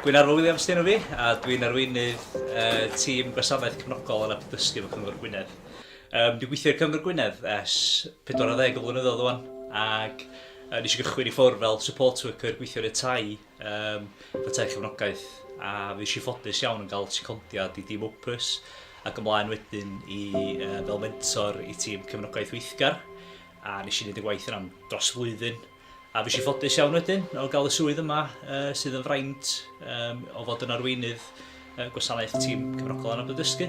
Dwi'n Arwel Williams dyn nhw fi, a dwi'n arweinydd uh, tîm gwasanaeth cefnogol yn apdysgu fy Cyngor Gwynedd. Um, dwi'n gweithio i'r Cyngor Gwynedd ers 40 o flynyddoedd o'n, ac uh, nes i gychwyn i ffwrdd fel support worker gweithio yn y tai, um, fy tai cefnogaeth, a fi eisiau ffodus iawn yn cael secondiad i dîm Opus, ac ymlaen wedyn i, uh, fel mentor i tîm cefnogaeth weithgar. A wnes i wneud y gwaith yna'n dros flwyddyn. A fues i ffodus iawn wedyn o gael y swydd yma uh, sydd yn fraint um, o fod yn arweinydd uh, gwasanaeth tîm cyfrogol anabod dysgu.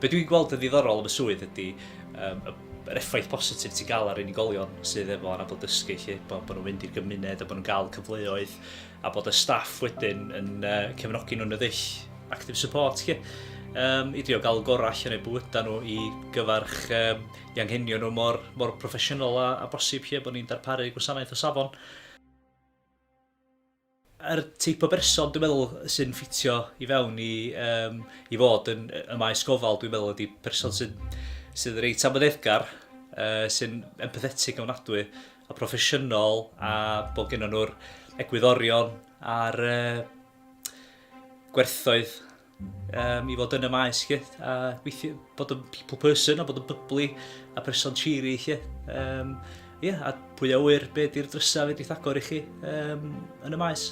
Be dwi'n gweld yn ddiddorol am y swydd ydy um, y yr effaith positif ti'n cael ar unigolion sydd efo anabl dysgu 'lly, bod nhw'n mynd i'r gymuned a bod nhw'n cael cyfleoedd a bod y staff wedyn yn uh, cefnogi nhw'n y ddull active support 'lly. Um, i drio gael gorau allan o'u bywydau nhw i gyfarch um, i anghenio nhw mor, mor proffesiynol a, a bosib lle bod ni'n darparu gwasanaeth o safon. Yr teip o berson dwi'n meddwl sy'n ffitio i fewn i yym i fod yn y maes gofal dwi'n meddwl ydy person sy'n sydd reit amyneddgar, uh, sy'n empathetig yn ofnadwy a proffesiynol a bod gennym nhw'r egwyddorion a'r uh, gwerthoedd um, i fod yn y maes chi, a gweithio, bod yn people person a bod yn byblu a person cheery chi. Um, yeah, a pwy a wyr be di'r drysau fe di'th agor i chi um, yn y maes.